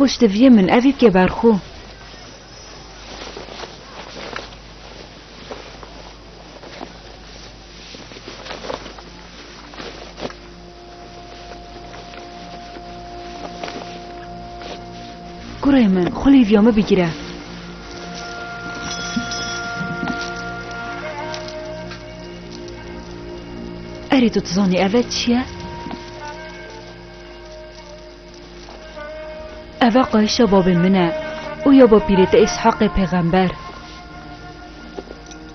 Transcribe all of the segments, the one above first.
Xweş diviyê min evî bike ber xwe. Kurê min, xulîvya min bigire. Erê tu dizanî ev e çi ye? Ev e qayişa babê min e û ya bapîrê te Îshaqê pêxember.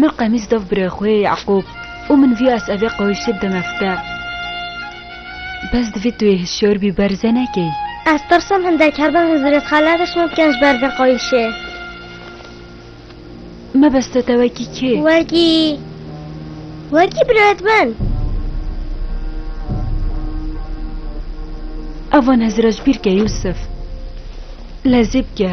Min qemîs dav birê xwe Yeqûb û min vî esevê qewîşê bide me fite. Bes divê tu yê hişyar bî ber zê nekey. Ez tirsim hindek her bin Hizrêt Xaled ê şima bikin ji ber vê qewîşê. Me bes te te wekî kê? Wekî wekî birêt min. Evan hezira ji bîr ke Yûsif. Lezî bike.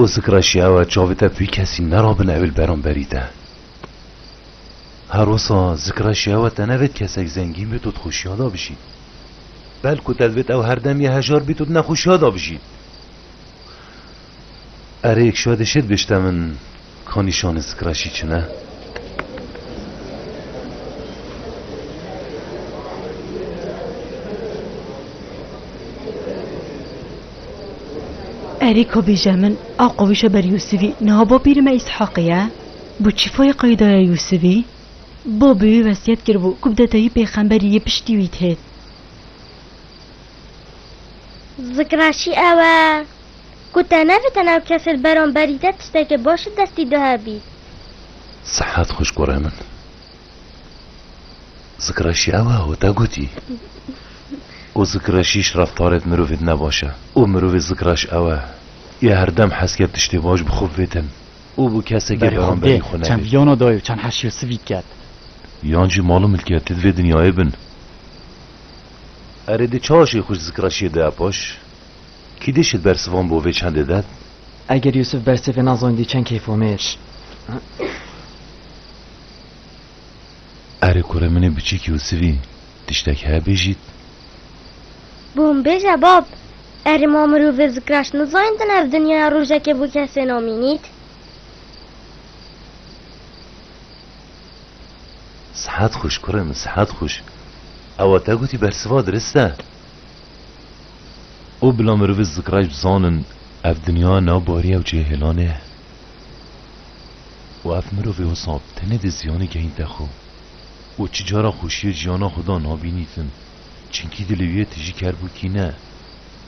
Û sikra şiyawa çavê te vî kesî nerabin ew li beramberî te. Her wisa zikra şiyawa te nevêt kesek zengîn bê tu dixweşiya de bijî. Belku te divêt ew herdem yê hejar bî tu di nexweşiya de bijî. Erê yek şadê şêdibêjte min. Ka nîşanê Skraşî çi ne? Erê ka bêje min a qawîşa ber Yûsivî niha bapîrê me Îshaqî ye? Bi çi fayê qey daye Yûsivî? Babê wî wesiyet kiribû ku bi detayî pêxemberî yê piştî wî têt. Skraşî ew e. Ku te ne bi te ne kes li beramberî te tiştekê baş li destî dihe bî. Sihet xweş kurê min. Zikreşî ew e ku te gotî. Ku zikreşî ji reftarê di mirovê di ne baş e. Û mirovê zikreş ew e. Yê her dem hez ke tiştê baş bi xwe bivêtin û bi kesekê beramberî xwe nebe. Çend viyana dayê û çend heşî û sivî diket. Yan jî mal û milketê di vê dinyayê bin. Erê di çaşê xwe ji zikreşiyê dihe paş. Kî dê şît bersivan bo vê çendê de? Eger Yûsif bersivê nazanîdî çend keyfomêr. Erê kure minê biçîk Yûsifî tiştek heye bêjît. Bi hûn bêje bab. Erê ma mirovê zikraş nizanîdin ev dinyaya rojekê bo kesê namînît. Sihet xweş kure min sihet xweş. Ewa te gotî bersiva dirist e. û bila merivi zikraj bizanin ev dinya nav bariya û cêhêlan e û ev mirovê wisa bi tenê dê ziyanê gehînte xwe û çi cara xweşiyê jiyana xwe da nabînîtin çinkî dilê wî yê tijî ker bû kîne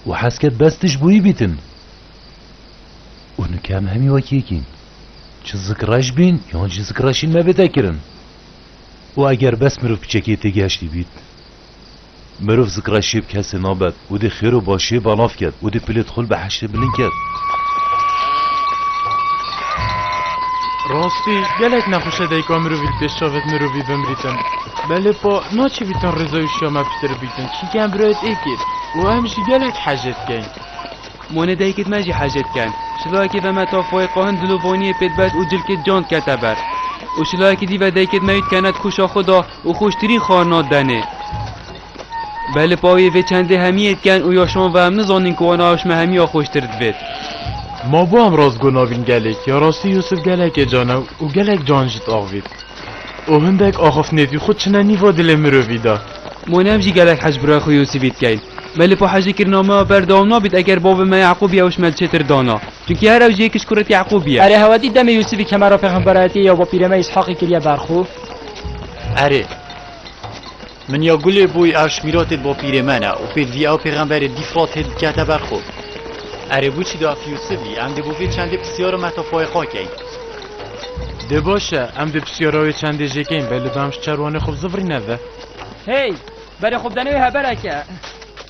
û hez ket bes tij bûyî bîtin û nûke em hemî wek yek în çi zikraj bîn yan jî zikraj hîn mebête kirin û eger bes meriv piçekê têgehiştî bît Mirov zikra şêb kesê nabed. Udê xêro başê balav ked. Udê pilê dixul be heşrê bilin ked. Rastî gelek nexweşe dayika mirovî li pêş çavek mirovî bimrîtin. Belê pa naçê bîtin rêza û şiya me piştre bîtin çînkî em birayet êkê û em jî gelek hece dikeyn. Monê dayikê di me jî hece diken. Şilakê ve me tafoyê qahin dilovaniyê pê dibest û cilkê di can dikete ber. Û şilakê dî ve dayikê di me wî dikene di koşa xwe da. Û xûştirîn xwarina denê. Belê pawiyê vê çendê hemiyê diken û ya şon ve em nizanin ku wana ewşme hemiya xûştir divêt. Ma bo em rastgo nabîn gelêk ya rastî Yûsif gelekê canew û gelek can jî diavît. Û hindek axaftinê tî xwe çine nîva dilê mirovî de. Ma ne em jî gelek hej birayê xwe Yûsifî dikeyn. Belê pa hejîkirina me ya berdewam nabît eger bavê me Yeqûbî ewşme li çêtir dana. Çunkî her ewjîyê kişkurek Yeqûbî ye. Erê hewedî demê Yûsifî kemera pêxemberayetiyê ya bapîrê me Îshaqî kiriye ber xwe. Erê. Min ya gulê bûy erş mîratê bo pîrê mena û pêd vî ew pêxemberê dîfrat hê dikete ber xwe. Erê bû çi daf Yûsivî em dê bo vê çendê pisyara metafayê xwe keyin. Dê baş e em dê pisyara wê çendê jê keyin belê damş çerwanê xwe bi zivrîne ve. Hey! Berê xwe bidene wê hebereke.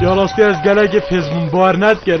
Ya rastî ez gelekî pêzbûn bar nedikir.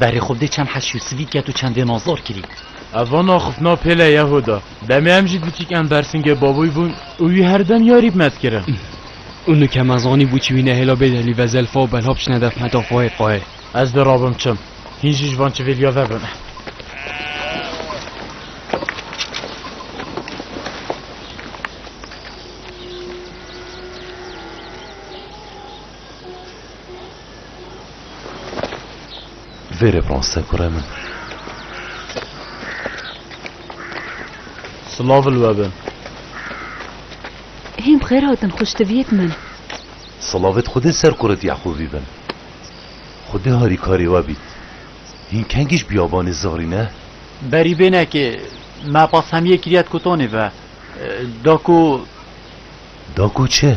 Berê xwe bi dê çend heşî û sivî ket û çendê nazor kirî. Ev vana xifna pêle Yehuda, demê em jî diçîk em bersingê baboyî bûn û wî her dem yarî bi me dikirin. Û nu ke me zanî bû çi wî nehêla bê delî ve zelfa û belha biçine dev heta xwe hê qayê. Ez dê rabim çim. Hîn jî ji van çivêlîya ve bim. Vê referansê kurê min. Silav li we be. Hên bi xêr hatin xuştiviyêk min. Silavê di Xwedê ser kurê di Yeqûbî bin. Xwedê harîkarê we bît. Hîn kengî ji biyabanê zivrî ne? Berî bênekê me pasemiyê kiriye di kotanê ve. Da ku. Da ku çi?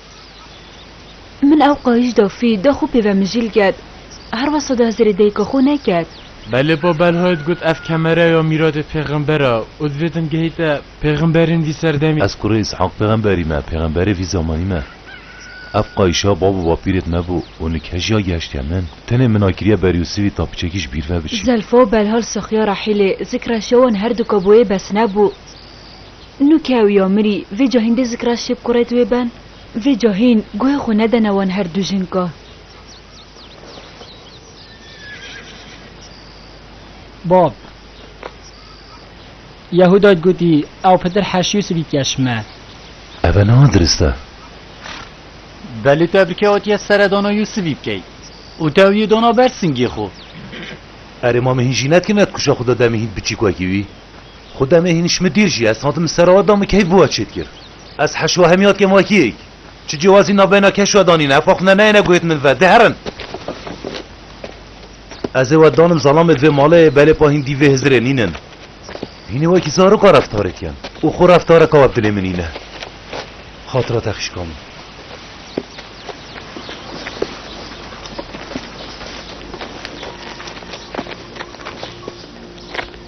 Min ew qayîş da fî da xwe pê ve mijîl get. Her wesa da hezirê dayika xwe neket. Belê ba Belhayê digot ev kemere ya mîradê pêxember e û divê din gihîte pêxemberên vî serdemî. Ez kurê Îshaq pêxemberî me, pêxemberê vî zamanî me. Ev qayîş ya bab û bapîrê di me bû û nike jî ya gehiştiye min. Tenê min a kiriye ber Yûsivî ta piçekî ji bîr ve biçî. Zelfa û Belha li Sixya Rehîlê zikre şewan her du ka boyê bes nebû. Nu ke ew ya mirî, vê ca hîndê zikra şêb ku rêt wê ben? Vê ca hîn guhê xwe nedene wan her du jin ka. Bab. Yehuda gotî, Ew pitir Heş Yûsivî keş me. Eve niha dirist e. Belê te bi kewetiye seredana Yûsivî bikey û te ew yê dana ber singê xwe. Erê mame hîn jî netke ne di kuşa xwe de demê hîn biçîk wekî wî? Xwe demê hîn ji min dîr jî ez hatim ser we da min keyf bi we çêt kir. Ez heşwa hemiya kêmakiyek. Çi cêwazî navbeyna keş we danîne efa xwe ne neyêne guhêt min ve. Dê herin. Ez ê we danim zalamê di vê malê belê pa hîn dî vê hizirê nînin. Hînê wekî zaroka reftarê dikin û xwe reftareka we bi dilê min nîne. Xatira te xişka min.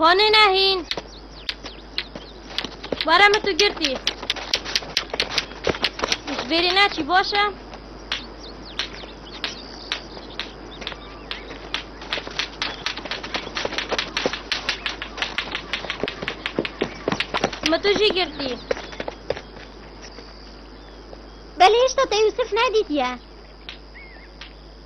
Koni nehin. Bara me tu girtî. Ji bêrê neçî baş e. Me tu jî girtî. Belê hişta te Yusuf nedîtiye.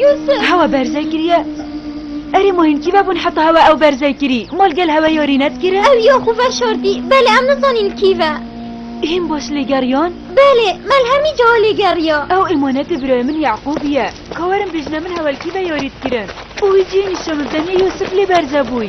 Yusuf! Hewa berze kiriye. Erê ma hîn kîve bûn heta hewa ew berze kirî? Mal gel hewa yorî nedikire? Ew ya xwe veşartî. Belê em nizanîn kîve. Hîn baş lê geriyan? Belê, Melhemî cawa lê geriya. Ew emanetê birayê min Yeqûbî ye. Ka werin bêjine min hewa li kîve yorî dikirin. Û wî cihê nîşan min tenê Yusuf lê berze bûy.